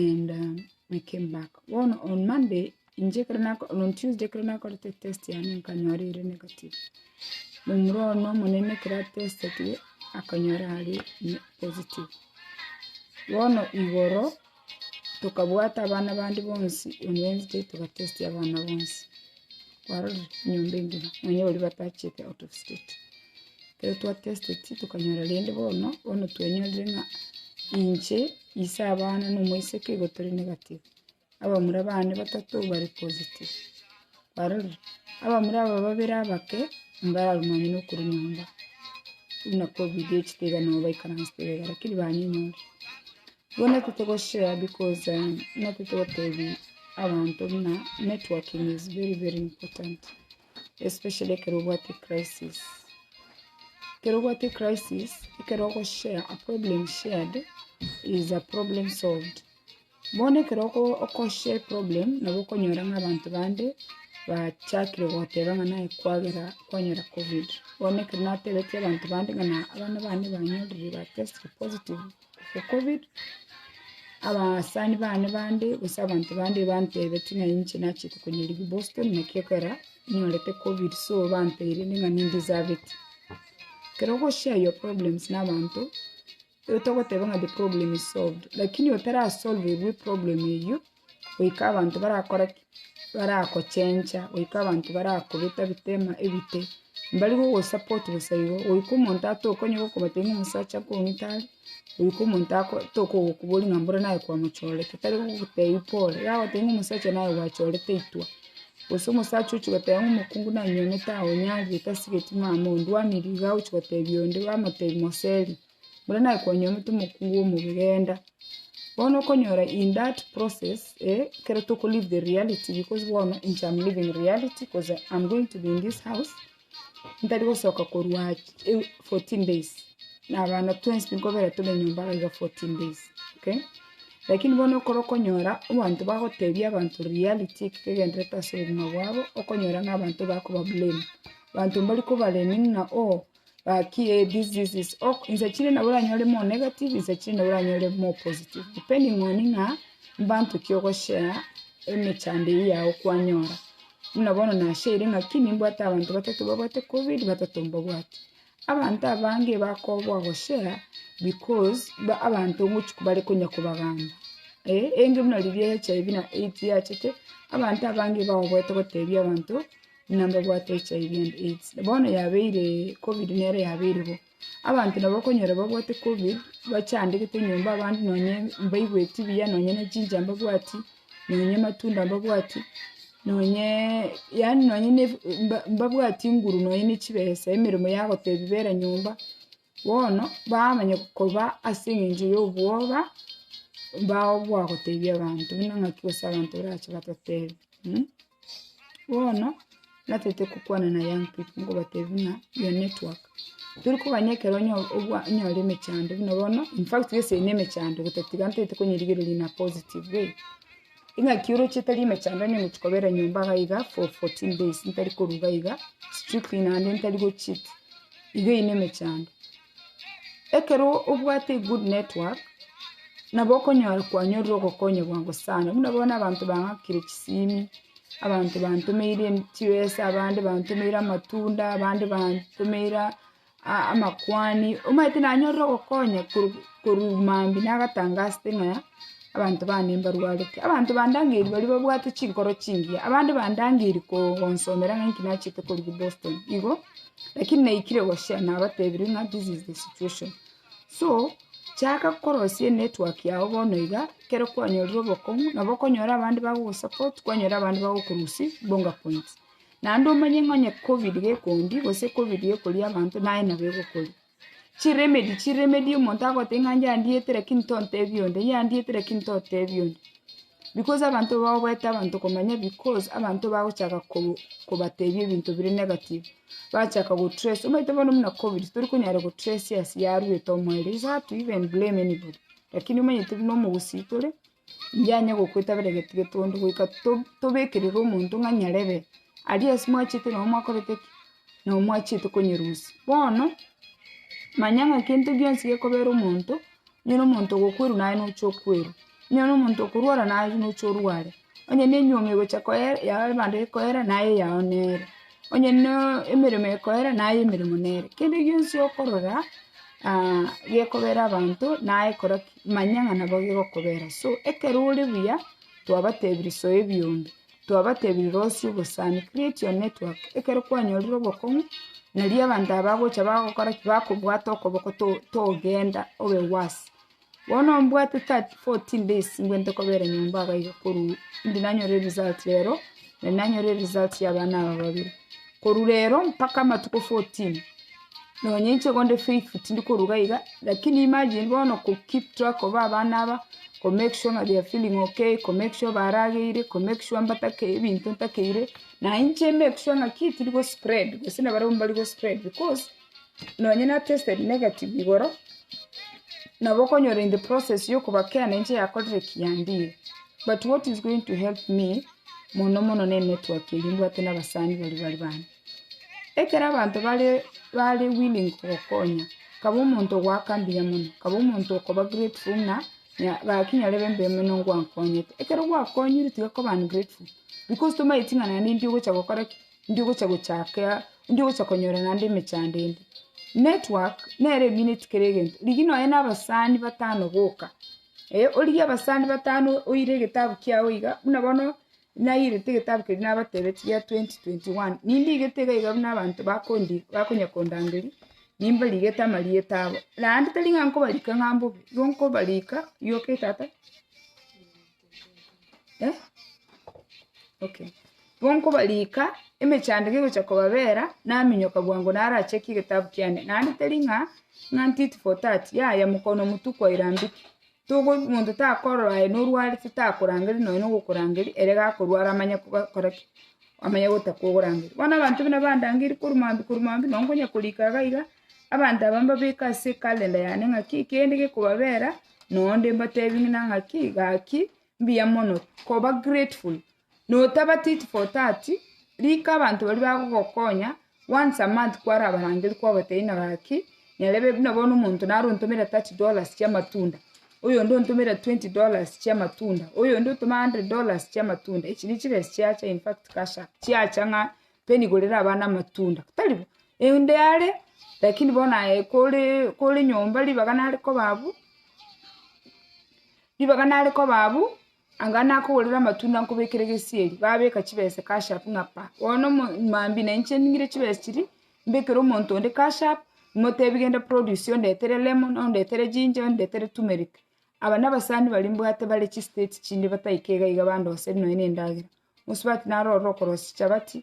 and um, we came back bono on monday inche ekero nako- on tuesday ekero nakorete test yane nkanyora ere negative momura one omonene ekero atestetire akanyora ari ne- positive bono igoro tokabwata abana bande bonsi on wednesday togatestia abana bonsi kwarorire enyomba engima nonya baria batachete out of state. Ekero twa testeti tokanyora rende bono, bono twanyorire ng'a inche ise abana na omoiseke igo tore negative, abamura bane batato bare positive, kwarorire, abamura aba babere abake mbararumanywe na okorwa nyomba, buna covid echete iga nabo baikaransete iga iga lakini banyenyore. Bono titogoshare because buna totogotebia abanto buna networking is very very important especially ekero obwate ecrisis. Ekero obwate ecrisis, ekero ogoshare a problem shared is a problem solved. Bono ekero oko- okoshare problem nabo okonyora ng'a abanto bande bachakire gogoteba ng'a naye kwagera kwanyora covid. Bono ekero natebeti abanto bande ng'a na abana bane banyorire ba testire positive, Ekobiri, abasani bane bande, gose abanto bande bantebetie ng'a inche nachete konya ribu Boston, naki ekero nyorete covid so bantebirie ng'a nindeserved. Ekero ogo share your problems na abanto, otagoteba ng'a the problem is solved, lakini otarasolvigwe problem eyio. goika abanto barakore ki? baragochencha, goika abanto baragobeta ebitema ebite, mbari gogosupport bosa igo, goika omonto atoke onye gokobatebia ng'a omosacha nkong'ita are, goika omonto ako- toke gokoboria ng'a mbore naye kwamochorete, tari gogotebia pore, iga agotebia ng'a omosacha naye gwachorete itwe, gose omosacha ochia goteba ng'a omokungu nanyuomete aonyarire tasigeti mama ondwanirie, iga ogochia gotebia onde, bamotebia moseri. buna nakwanywa omote omokuu bw'omobere enda. Bono okonyora in that process eh, ekero toko live the reality because bono inche am living reality cause am going to be in this house, ntari gosoka korwa ch- fourteen days, na abana twensi tokobera tore nyomba iga iga fourteen days, okay? Lakini bono ekero okonyora abanto bagotebia abanto reality eki kegenderete ase obogima bwabo, okonyora ng'a abanto bakoba blame, abanto mbari koba blaming ng'a oh. Gaki eh this this this ok insa chire nabo oranyore more negative insa chire nabo oranyore more positive depending on ng'a mbanto ki ogoshare emechando eyio yago kwanyora. Buna bono nashaire ng'aki nimbwate abanto batato babwate covid batato mbabwate. Abanto abange bakoboa goshare because ba abanto ngochi bare konya kobagamba eh enge buna riria HIV na AIDS yachete abanto abange bagoeta gotebia abanto. Ng'a mbabwate HIV and AIDS, bono yabeire Covid nere yabeire bo. Abanto nabo okonyora babwate Covid, bachandegete nyomba abande nonye mbaigweti buya nonye ne ginger mbabwati, nonye matunda mbabwati, nonyeeee yaani nonye ne ebi- mba- mbabwati nguru nonye ne chibesa emeremo yagotebi bera nyomba, bono bamanya koba ase eng'encho ya obwoba, mbagoa gotebi abanto buna ng'aki gose abanto barache batotebi. Bono natete gokwana na young people ngobatebia ng'a your network, tori kogania ekero onye obwa onyore emechando buna bono, in fact gose ere nemechando gotatiga ntagete konyerigereria in a positive way, ing'aki oroche tari emechando onye omochie kobera nyomba iga iga for fourteen days ntari korwa iga iga strictly naende ntari gocheat, iga eyio nemechando. Ekero obwate egood network, nabo okonyora kwanyorire ogokonya bwango sana, buna bono abanto bang'akire chisimi, abanto bantomeire chibesa, abande bantomeire amatunda, abande bantomeire a- amakwani, omanyete nanyorire ogokonya korwa korwa mambia nagatangasete ng'a. abanto bane mbarwarete. Abanto bandangeria baria babwate chinkoro chingiya, abande bandangeria ko- konsomera ng'a inki nachete korigia Boston igo, lakini naikire gochia nabatebirie ng'a this is the situation. So, chaka korosia enetwork yago bono iga, ekero kwanyorire obokong'u, nabo okonyora abande bagogosupport, kwanyora abande bagokorusia bonga points. Naende omanye ng'a onye covid gekondi, gose covid gekoria abanto, naye nabo egokoria. Chiremedi, chiremedi omonto agote ng'a yandieete lakini tontebia onde, yandieete lakini totebia onde. Because abanto bagoeta abanto komanya because abanto bagochaka ko- kobatebia ebinto bire negative, bachaka go trace, omanyete bono buna covid tori konyara go trace ase yarwete omoerio, is hard to even blame anybody, lakini omanyete buna omogusii tore. Inyaye gokwetabera egento getondo goika to- tobekerere omonto ng'a nyarebe, aria ase mwachete nabo mwakorete ki? nabo mwachete konyerusia. Bono, manya ng'a kento gionsi gekobera omonto, onye na omonto ogokwerwa naye nocha okwerwa, onye na omonto okorwara naye nocha orware, onye na enyiomi egocha koyer yao ebando ekoera naye eyao nere, onye naa emeremo ekoera naye emeremo nere. Kende gionsi okorora, gekobera abanto naye kora ki? manya ng'a nabo gegokobeera. So ekero ore buya, twabatebirie soe ebi onde, twabatebirie rosie obosani, create your network, ekero kwanyorire obokong'u, nario abanto aba bagocha bagokora ki? bakobwate okoboko to- togenda obe worse. Bono mbwate thirty fourteen days ngwente kobera nyomba abaiga korwa inde nanyore result rero, na nanyore result ya abana aba babere. Korwa rero mpaka amatuko 14 nonya inche gonde faithful tindi koruga iga, lakini imagine bono ko keep track of abana aba, ko make sure ng'a they are feeling okay, ko make sure barageire, ko make sure mbatake ebinto ntakeire, na inche make sure ng'a ki tiri go spread, gose nabarabwo mbari go spread, because. nonye na tested negative igoro, nabo okonyora in the process yokoba kera nainche yakorire kiyandiire, but what is going to help me mono mono ne network eria mbwate na abasani baria bari bande. Ekero abanto bare bare willing kogokonya, kaba omonto ogoaka mbuya mono, kaba omonto okoba grateful ng'a nya gaki nyarebe embe ime nigo ngwankonyete. Ekero gwakonyire tiga koba ungrateful, because tomaeti ng'a naende indio ogocha gokora ki. ndigocha gochaka, ndigocha konyora naende emechando ende. Network, nere emineti kera egento. Rigia nonya na abasani batano boka, eh, origie abasani batano oire egetabu kiago iga, buna bono nairete egetabu keria nabatebeti gia twenty twenty one, nindigete iga iga buna abanto bakondi bakonya kondangeria, nimbarigete amarieta abo. Naende tari ng'a nkobarika ng'a mbobe, igo nkobarika, yoke tata. eh, okay. Igo nkobariika emechandeko egocha kobabera, naminyoka bwango naracheke egetabu kiane, naende teri ng'a ng'a tit for tat, yaya mokono motwe kwaira mbiki, togo monto takorora aye norwarete takorangeri nonye na ogokorangeria ere gakorwara amanye koba kora ki, amanye gotaka ogorangeria. Bono abanto buna bandangeiri korwa mambia korwa mambia, nonye nkonya korika iga iga. Abanto aba mbabeke ase ekalenda yane ng'aki kende gekobabeera noonde mbateebie ng'ina ng'aki gaki mbuya mono koba grateful notaba tit for tat rika abanto baria bagogokonya once a month kwarabarangeria kwabateebia ng'ina gaki nyarebe buna bono omonto naro ontomere thirty dollars chia amatunda, oyonde ontomere twenty dollars chia amatunda, oyonde otome hundred dollars chia amatunda echi nigo chibesa chiacha infact cash up chiacha ng'a Peni igo rero abana amatunda, tari bo? Ende are, lakini bono aye kore kore nyomba ribaga nare koba abwo, ribaga nare koba abwo, anga nakogorera amatunda nkobekere gesieri, babeka chibesa cash up ng'a pa, bono omo mambia na inche ning'ire chibesa chiria, mbekere omonto onde cash up, motebi genda produce ondetere lemon, ondetere ginger, ondetere tumeric. Aba nabasani baria mbwate bare chistate chinde bataika iga iga bandoseri nonya na endagera. Mosubati naro ororo okorosia chichabati,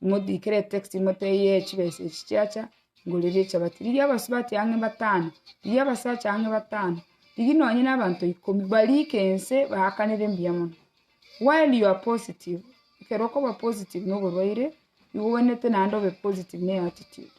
imotiikere etekisi imotebie ee chibesa echi chiacha, ngoreria echabati. Rigia abasubati ang'e batano, rigia abasacha ang'e batano, rigia nonye na abanto ikomi, bariike ense baakanere mbuya mono. While you are positive, ekero okoba positive na oborwaire, nigo obwenerete naende obe positive na eatitude,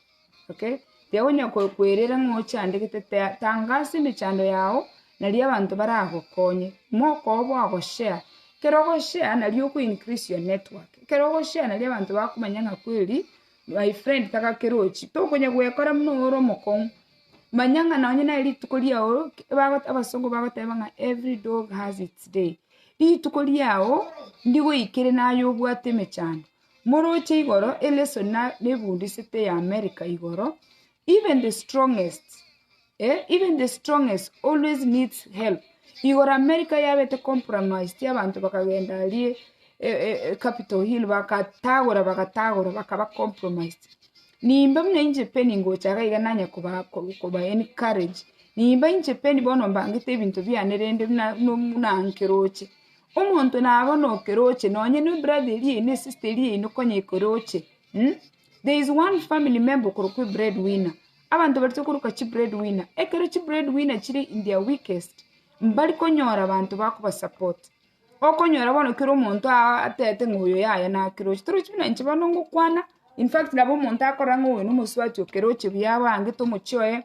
okay? Tiga onya ko- koerera ng'a ochandegete tea- tangaasa emechando yago naria abanto baragokonye, mokooo bwagoshare, ekero ogoshare nario oko increase your network, ekero ogoshare nario abanto bakomanya ng'a kweri my friend taba kerochi, tokonya goekora buna oyo ore omokong'u, manya ng'a nonye nere rituko riago ki- bagote abasongo bagoteba ng'a every dog has its day, rituko riago ndigoikere naye obwate emechando. Moroche igoro eleso na nebundisete ya America igoro, even the strongest eh even the strongest always needs help, igoro America yabete compromised abanto bakagenda aria eh eh eh capital hill bagatagora bagatagora bakaba compromised, nimbe buna inche Penny ngocha iga iga nanye koba koba encourage, nimbe inche Penny bono mbangete ebinto biane rende buna buna buna nkeroche. Omonto naba nokeroche, nonye ne brother eria yaino, sister eria yaino konya ekeroche. There is one family member okorokwa ebread winner. Abanto baria tokoruka chibread winner, ekero chibread winner chire in their weakest, mbari konyora abanto bakoba support. Okonyora bono kera omonto atebete ng'a oyo yaya nakeroche. Torochi buna inche bono ngokwana, in fact nabo omonto akorora ng'a oyo nomosubati okeroche buya abangete omochie oye.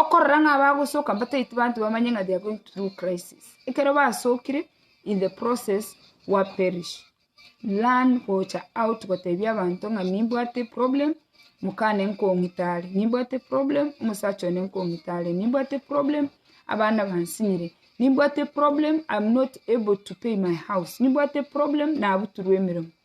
Okorora ng'a abagosoka mbataeti banto bamanye ng'a they are going through crisis. Ekero basokire in the process wa perish. Learn gocha out gotebia abanto ng'a nimbwate problem, mokane nkong'ita are, nimbwate problem, omosacha one nkong'ita are, nimbwate problem, abana bansinyire, nimbwate problem, I'm not able to pay my house, nimbwate problem, nabuturwe emeremo.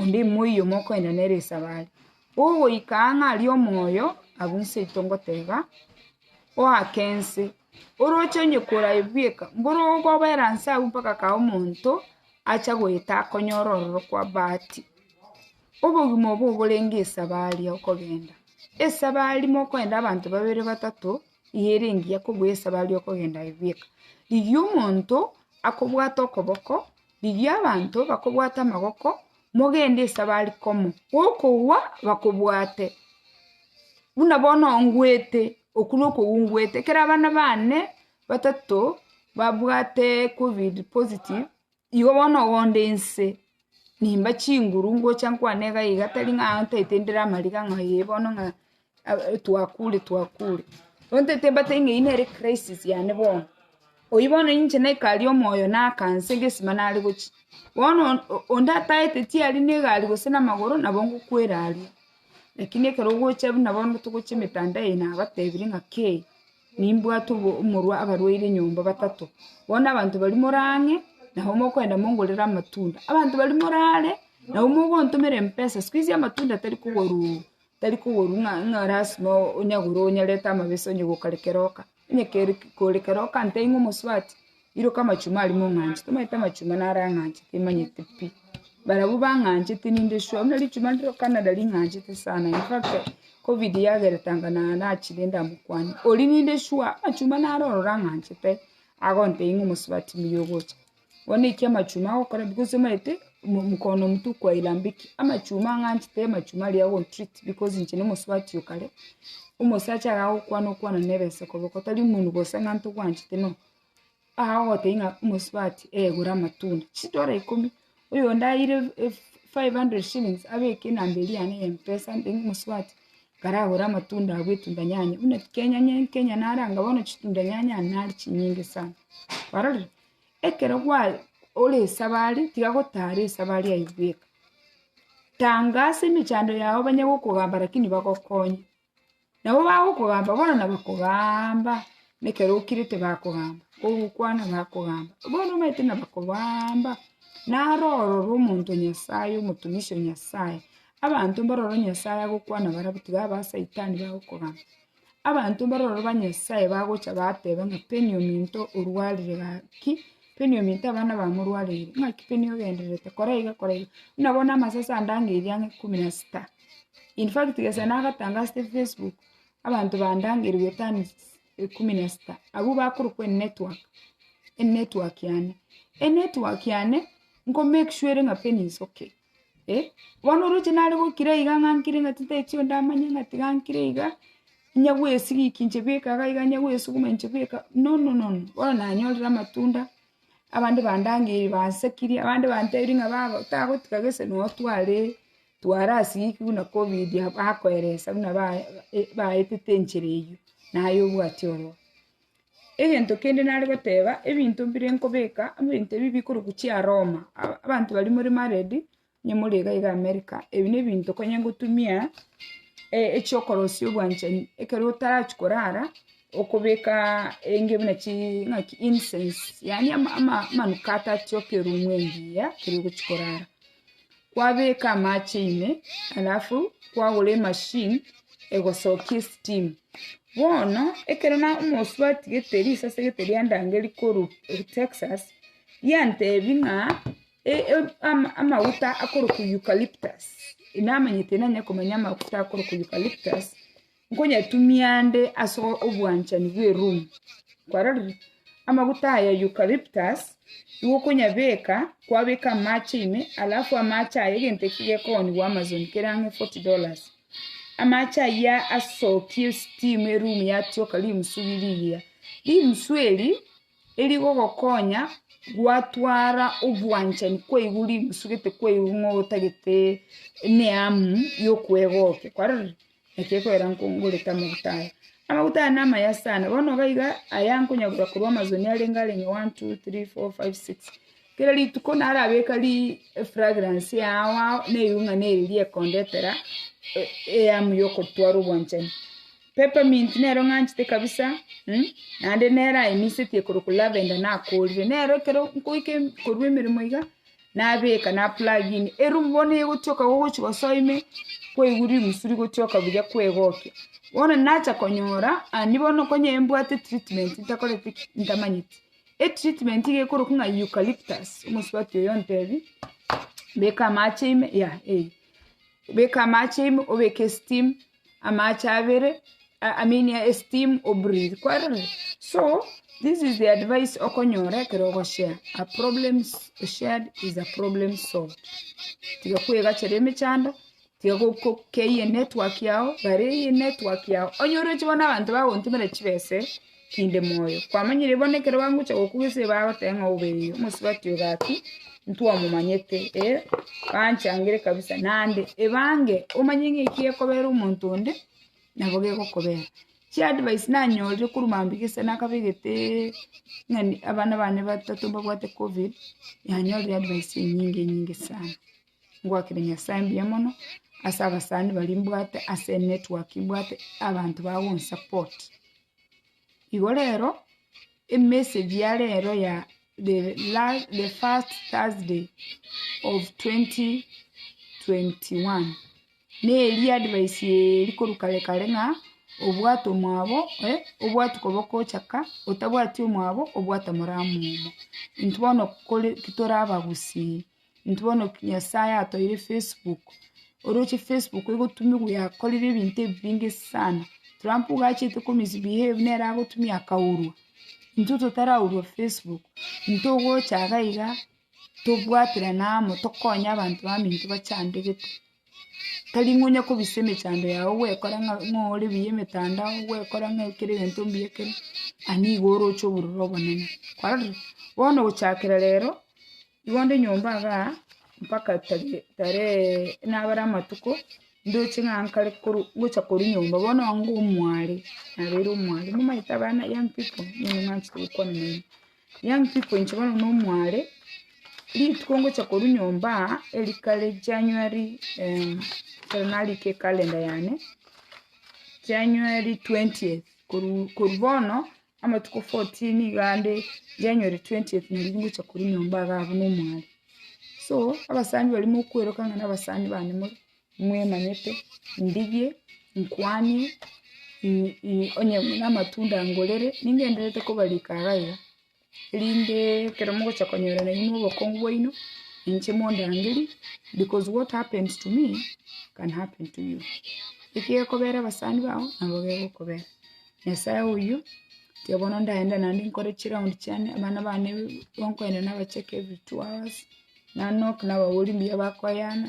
Onde ime oyomo okoenda nere esabari. Ogoika aa ng'a aria omoyo, abwo inseito ngoteba, oake ense, oroche onye korayi bweka, mboro ogobera nse agwo mpaka kae omonto acha goeta akonyore ororo kwa bahati. Obogima obo oborenge esabari ya okogenda. Esabari mokoenda abanto babere batato, eyio ere engiya kobua esabari ya okogenda aye bweka. Eyio omonto akobwate okoboko, Rigia abanto bakobwate amagoko, mogende ase abarikomo, gokogwa bakobwate, buna bono ngwete, okwo nokogwa ngwete. Ekero abana bane batato babwate covid positive, igo bono ogonde inse, nimba chinguru ngocha nkwane iga iga tari ng'a ntaete ndire amariga ng'a ee bono ng'a. twakure twakure. Gonto etebate ng'a eyio nere crisis yane bono. Oyio bono ninche naikari omoyo nakanse egesima nare gochia. Bono onde ataete tiari ne egari gose na amagoro nabo ngokwera aria. Lakini ekero ogochia buna bono togochia emetandao eye nabatebirie ng'a kei, nimbwate obo- omorwa abarwaire nyomba batato. Bono abanto baria more ang'e, nabo mokoenda mongorere amatunda. Abanto baria morare, nabo mogontomera empesa. Sikuizi amatunda tari kogoruu. Tari koboru ng'a ng'a lasima o- onyagure onyarete amabesa onye gokare kero oka, onye kere kore kero oka nte ing'o omosubati, iroka amachuma aria mong'anche, tomanyete amachuma naro ang'anche timanyete pi, barabwo bang'anchete ninde sure, buna richuma rire rwa canada ring'anchete sana in fact covid yageretanga na nachire ndamokwana, oria ninde sure amachuma naro ororo ang'anchete, agontebia ng'a omosubati mbuya ogocha. Bono eki amachuma agokora because omanyete mkono mtu kwailambiki, amachuma ang'anchete amachuma aria agontreat because inche nomosubati o kare, omosacha iga agokwana okwana nere inse koboko tari omonwe gose ng'a ntogwanchete no, iga ogotebia ng'a omosubati ee gora amatunda, chidola ikomi, oyonde aeire ef- five hundred shillings abeke enamba eria yane ya mpesa ande omosubati kare agore amatunda abwo etunda nyanya, buna kenya nye nkenya naranga bono chitunda nyanya nari chinyinge sana, kwarorire. Ekero gwa- ore esabari, tiga gotara esabari eyio bweka. Tanga ase emechando yago banye gokogamba lakini bagokonye. Nabo bagokogamba bono nabakogaamba, na ekero okirete bakogamba, ogokwana bakogamba. Bono omanyete nabakogaamba, naro ororo omonto Nyasaye, omotomisi o Nyasaye. Abanto mbaroro Nyasaye agokwana barabwo tiga aba saitani bagokogamba. Abanto mbororo ba Nyasae bagocha bateba ng'a Beniomi into orwarire gaki, Beniomi into abana bao morwarire, ng'aki Beniomi ogendererete kora iga kora iga, buna bono amasese ande ang'e eriang'a ikomi na sita. In fact gese nagatangasete Facebook, abanto bande ang'e erigwe tani ikomi na sita, abwo bakorokwa enetwork, enetwork yane. Enetwork yane, nko make sure ere ng'a Beni is okay. eh, bono oroche nare gokira iga ng'a nkire ng'a titari chio ndamanye ng'a tiga nkire iga, inya bwesigikia inche bweka iga iga inya bwesuguma inche bweka no no no no, bono nanyorire amatunda, abande bandangeire bansakirie, abande bantebirie ng'a baba otagotiga gese na otware twara ase eki buna covid bakoeresa buna bae- baetete enchera eyio, naye obwate ororo. Egento kende nare goteba, ebinto mbire nkobeka, ebinto ebi bikorokwa chiaroma, a- abanto baria more married, onye more iga iga america, ebi na ebinto okonye gotumia e- echiokorosia obwanchani ekero otarachi korara, okobekaa enge buna chi ng'aki incense, yaani ama- ama- amanukato achio ake erumu engiya ekero ogochi korara. kwabeka amache ime alafu kwagora emachine egosokia esteam, bono ekero na omosubwa atigete risase gete ria ndange rikorwa Texas, riantebi ng'a e- e- ama- amaguta akorokwa eucalyptus, namanyete nanye komanya amaguta akorokwa eucalyptus. Nkonyetumia nde ase obwanchani bw'erumu, kwarorire? Amaguta aya eucalyptus, nigo okonyabeka, kwabeka amache ime, alafu amache aya egento ekio gekooniwa Amazon kere ang'e forty dollars. Amache ayia asokie steam erumu yatioka rimusu riria iyia. Rimusu eri, erigogokonya gwatwara obwanchani kwa igoro rimusu gete kwa igoro ng'otagete emeamu yokwegokigwa, kwarorire? Eke ekwera nkongorete amaguta aya. Amaguta aya namaya sana, bono iga iga aya nkonyagora korwa amasoni arenge arenge one, two, three, four, five, six. Kera rituko narabeka ri efragrance yao ao na erionga neri riekondetera e- eyamu yokotwara obwanchani. Peppermint nero ng'anchete kabisa, naende nero aimisetie korokwa lavender nakorire. Nero ekero nkoika em- korwa emeremo iga, nabeka na plug in, eroom bono egotioka gogochi gosoa ime, kwaigwa rimusuri gotioka buya kwegokia. Bono nacha konyora, andi bono konye mbwate treatment ntakoreti ki? ntamanyeti. Etreatment iga ekorokwa ng'a eucalyptus, omosubati oyo ontebia, beka amache ime, yah eh, beka amache ime, obeke esteem, amache abere a- aminia esteem obreathe, kwarorire? So, this is the advice okonyora ekero ogoshare, a problem shared is a problem solved, tiga kwegachera emechando, tiga go- go- keyie enetwork yago, bare eyie enetwork yago, onye oroche bono abanto bagontimera chibesa ere. kende moyo. Kwamanyire bono ekero bagocha gokugwa ase eba agoteba ng'a obe eyi, omosubati oo gaki, ntwamomanyete, eh, banchangire kabisa. Naende ebange omanye ng'a eki gekobera omonto onde, nabo gegokobera. Chi advice nanyorire korwa mambia gese nakabegeteeee ng'a ni- abana bane batato mbabwate covid, nanyorire advice enyinge enyinge sana. Ngoakera Nyasaye mbuya mono, ase abasani baria mbwate, ase enetwork mbwate, abanto bagonsupport. Igo rero emessage ya rero ya the first Thursday of 2021 neri advice eri korwa kare kare ng'a obwate omwabo obwati koba okochaka otabwati omwabo obwate omoramo obo intwe bono kore torabagusi. Intwe bono Nyasaye atoeire Facebook, oroche Facebook egotumiwa yakorire ebinto ebi binge sana. Trump iga achete ko misbehave nere agotumia akaurwa, intwe totaraurwa Facebook, intwe ogocha iga iga tobwaterane amo tokonye abanto baminto bachandegete. Tari ng'a onya kobisa emechando yago gwekora ng'a ng'oore buya emetandao, gwekora ng'a kera egento mbuya ekero, aa nigo oroche obororo obonene, kwarorire? Bono gochakera rero, igo nde nyomba igaa, mpaka tagee tareeee nabare amatuko, ndoche ng'a nkare korwa ngocha korwa nyomba bono onga omware, nabeire omware, nigo omanyete abana young people, nigo omanyete gokwana naende. Young people inche bono nomware, rituko ngocha korwa nyomba aa, erikare January ekero narikire ecalendar yane, January twentieth, korwa korwa bono, amatuko fourteen iga ande January twentieth naria ngocha korwa nyomba iga abwo nomware. So, abasani baria mokweroka ng'a nabasani bane more. Mwemanyete, ndigie, nkwanie, i- i- onye namatunda ngorere, ningendererete kobarika iga iga, erinde ekero mogocha konyora nainwe obokongu bwaino, inche mondangerie, because what happens to me, can happen to you. Eki gekobera abasani bao, nabo gegokobera. Nyasae oyio, tiga bono ndaende naende nkore chiround chiane, abana bane, bonkogenda nabacheke every two hours, nanoke nababori mbuya bakoyana,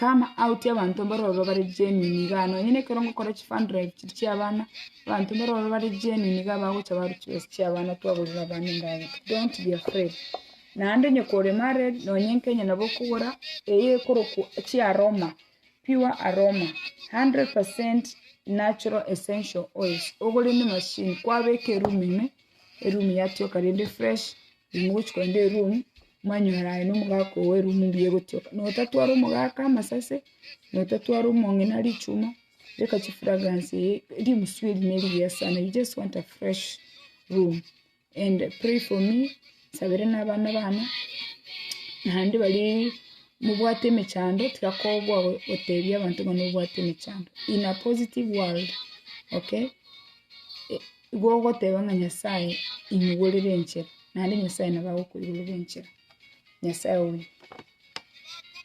Come out y'abanto mbaro ororo bare genuine igaa, nonye na ekero ngokora chi fund drive chiria chia abana, abanto mbare ororo bare genuine igaa bagocha barwa chibesa chia abana twagorera abana endagera, don't be afraid, naende onye kore married, nonye nkenya nabo okogora eye ekorokwa chiaroma, pure aroma, hundred percent natural essential oils, ogore na emachine, kwabeka eroom ime, eroom yatioka rende fresh, riria mogochia korenda eroom. Mwanywera aye nomogaka oo bwerwe emumbe egotioka, na otatwara omogaka amasase, na otatwara omong'ina richuma, teka chifragrance eye rimusu eri nerigiya sana, you just want a fresh room, and pray for me, nsabere na abana bane, naende barie mobwate emechando, tiga kogwa go- gotebia abanto buna obwate emechando, in a positive world, okay. Igo ogoteba ng'a Nyasaye imogorere enchera, naende Nyasaye nabo agokoigorera enchera, Nyasaye oyo.